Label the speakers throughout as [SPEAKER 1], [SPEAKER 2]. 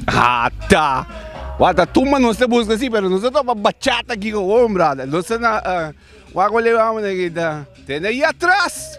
[SPEAKER 1] Hata! Wata tumba nos ta buska si pero nos ta topa bachata ki ko wou brada nos ta na wak wale wak manera kita tene ya tras.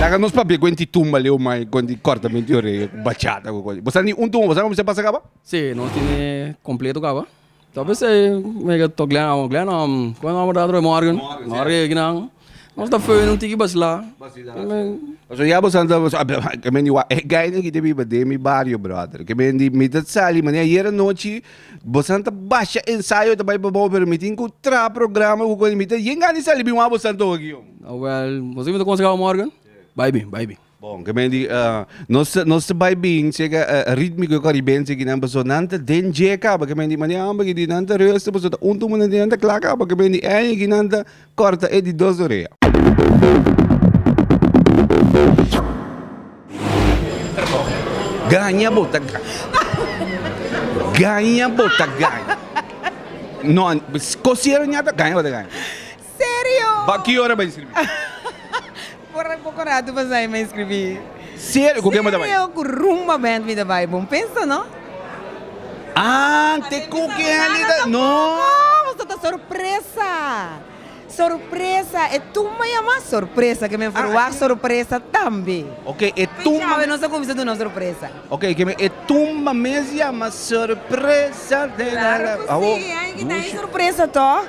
[SPEAKER 1] Laga nos papia cu enti tumba leu mai cu enti corta menti di oreja cu bachata cu cosa. Bosa ni un tumba bosa comensá pasa caba? Sí, nos tene
[SPEAKER 2] completo caba. Ta pensá mega to Glenhammer, Glenhammer, cu nomber ta otro día? Morgan. Morgan, sí. Morgan e guinan. Nos ta fönen un tiki basilá.
[SPEAKER 1] Pasobra ya boso anda boso ke men di wa e guy no kiti biba den mi bario brother ke men di mi ta sali mane ayer anochi boso anda basha ensayo ta bai pa bou pero mi tin ku traha programa ku koni mi ta yengani sali bin wan boso anda oki hombre. Awel boso mi
[SPEAKER 2] ta konsekaba morgan bai bin bai bin. Bon, ke men di,
[SPEAKER 1] nos nos ta bai bin si eke ritmiko e koribense ki nan paso nan ta den dje kaba ke men di mane amba ki di nan ta resta paso ta un tuman nan ta kla kaba ke men di eña ki nan ta kòrta e di dos orea. Gaña bo ta gaña gaña bo ta gaña no kosier ña ta gaña bo ta gaña. Serio!
[SPEAKER 3] Ba ki ora bai
[SPEAKER 1] scribi?
[SPEAKER 3] Por poco rato pasai mi a scribi. Serio? Cu ken
[SPEAKER 1] bo ta bai? Serio cu Rumba Band
[SPEAKER 3] mi ta bai. Bon pensa no?
[SPEAKER 1] Ah, te cu ken alí ta? No! Nos ta ta
[SPEAKER 3] sorpresa. Sorpresa. E tumba yama sorpresa ke men for wak sorpresa tambe. Ok, e tumba.
[SPEAKER 1] Chawe nos a cuminsa duna un
[SPEAKER 3] sorpresa. Ok, ke men e
[SPEAKER 1] tumba mes yama sorpresa. Claro cu si, e
[SPEAKER 3] hay ki ta hay sorpresa toch.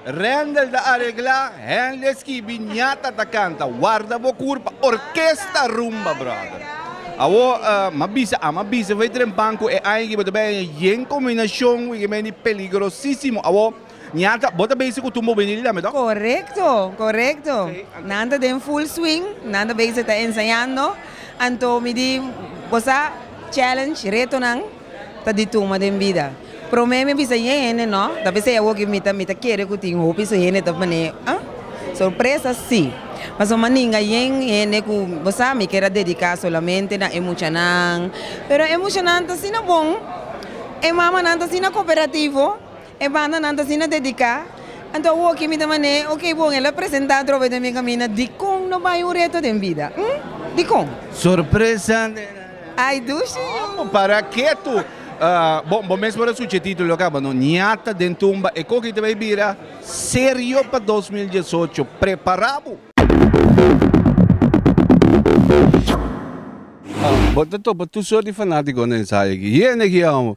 [SPEAKER 1] Rendel ta areglá hende skibi ñata ta kanta warda bo kur pa orkesta rumba brother awo ma bisa a ma bisa fai trempan ku e aña ki bo ta bai aña yen kombinashon wi ke bai di peligrosísimo awo ñata bo ta beisik ku tumba bo bai di lame tok? Korekto korekto
[SPEAKER 3] nan ta den full swing nan ta beisik ta ensañando anto mi di bo sa challenge retonan. ta di tuma den bida. Prome mi a bisa e hende no, ta bisa e awor ke mi ta mi ta kere ku tin hopi su hende ta man'e ah sorpresa si. Pasobra mandinga yen hende ku bo sa mi keda dedica solamente na e muchanan, pero e mushanan ta asina bon, e mamanan ta asina cooperativo, E bandanan ta asina dediká. Anto awoki mi ta man'é, Oké bon, el a presentá drobe den mi kaminda, dikon no bai un reto den bida? Hm? Dikon? Sorpresa den
[SPEAKER 1] aña. Ay
[SPEAKER 3] dushi yo! Amo, para ketu!
[SPEAKER 1] Bon, bo mes por a suchi e título aká, bo no ñata den tumba. E koki ta bai bira serio pa dos mil diesocho. Prepará bo! Bo ta topa tur sort di fanátiko na ensaya aki. Yende aki amo!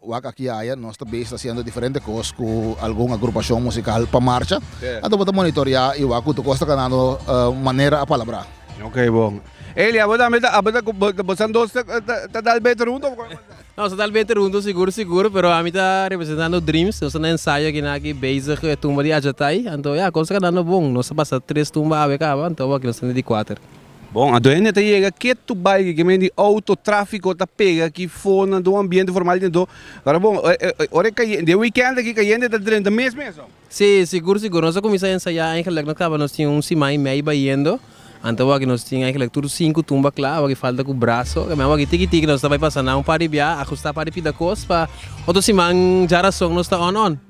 [SPEAKER 4] Wak aki aya nos ta bes ta hasiendo diferente kos ku algun agrupashon musikal pa marsha, anto bo ta monitoreá i wak ku tur kos ta kanando manera a palabrá. Ok bon.
[SPEAKER 1] Eli, abo tambe ta, abo ta ku bo, bosan dos ta ta dal bete runt of kon? Nos ta dal bete
[SPEAKER 5] runt sigur sigur, pero ami ta representando Dreams, nos ta na ensayo aki na aki bezig e tumba di Ajatay, anto ya, kos ta kanando bon, nos ta pasa tres tumba awe kaba, anto abo aki nos ta na di kuater. Bon, a dueño ta
[SPEAKER 1] yega ke tu bai ke kimen di outo tráfiko ta pega aki fo nan do ambiente formal den do. Kora bon, ora e kayente, den wikènt aki kayente ta drenta mes mes so. Sí, sigur sigur.
[SPEAKER 5] Nos a kuminsá ensayá eigenlijk nos kaba nos tin un siman i mei bayendo. Anto awaki nos tin eigenlijk tur sinku tumba kla, awaki falta ku braso. Kami awaki tiki tiki nos ta bai pasa na un par di biaha, ajustá par di pida kos pa otro siman dja rason nos ta on on.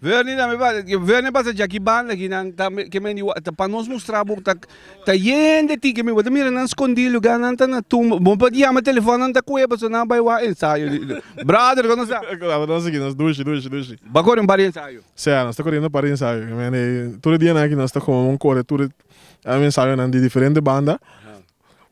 [SPEAKER 1] Vernie tambe pa Vernie pasa Jackie banda aki nan ta keme di wak ta pa nos mustra bo ta ta yende ti keme bo ta mira nan skondi luga nan ta na tumba bo por yama telefòn nan ta kue paso nan bai wak ensayo di brother kono sa Brother nos aki nos dushi
[SPEAKER 6] dushi dushi. Bo kore un par di
[SPEAKER 1] ensayo? Sea nos ta koriendo un par
[SPEAKER 6] di ensayo keme tur e dianan aki nos ta kome bo kore tur e ensayonan di diferente banda.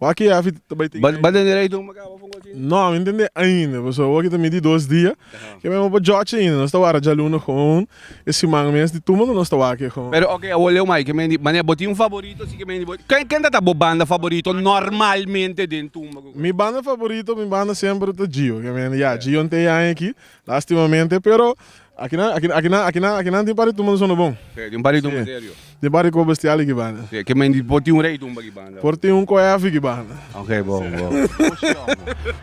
[SPEAKER 6] Wak e afi ta bai tin Ba den dereito un makaba
[SPEAKER 1] for gochi? No, mi
[SPEAKER 6] ntende ainda, paso wak ta midi dos dia. Ke mei oba George ainda, nos ta wara djaluna gewoon. E siman mes di tuma ta nos ta wak e gewoon. Pero oke, awor leu mai, ke
[SPEAKER 1] mei di, mane bo tin un faborito si ke mei di bo, ken ken ta ta bo banda faborito normalmente den tumba? Mi banda faborito,
[SPEAKER 6] mi banda semper ta Gio, ke mei di ya, Gio ntei aña aki, Lastimamente pero akinan akinan akinan akinan akinan tin pari tuma sono bon. Sí, tin pari tuma serio.
[SPEAKER 1] Tin pari ko bestial
[SPEAKER 6] di ki banda. Sí, ke menti por tin un
[SPEAKER 1] rei tumba ki banda. Por tin un ko hefi ki
[SPEAKER 6] banda. Ok bon bon.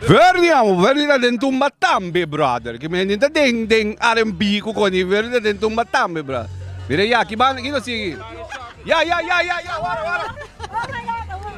[SPEAKER 1] Verdi amo, Verdi ta den tumba tambe brother. Ke menti ta den den RNB ku koni Verdi ta den tumba tambe bra. Mira ya ki banda kino sigui. Ya ya ya ya ya wara wara.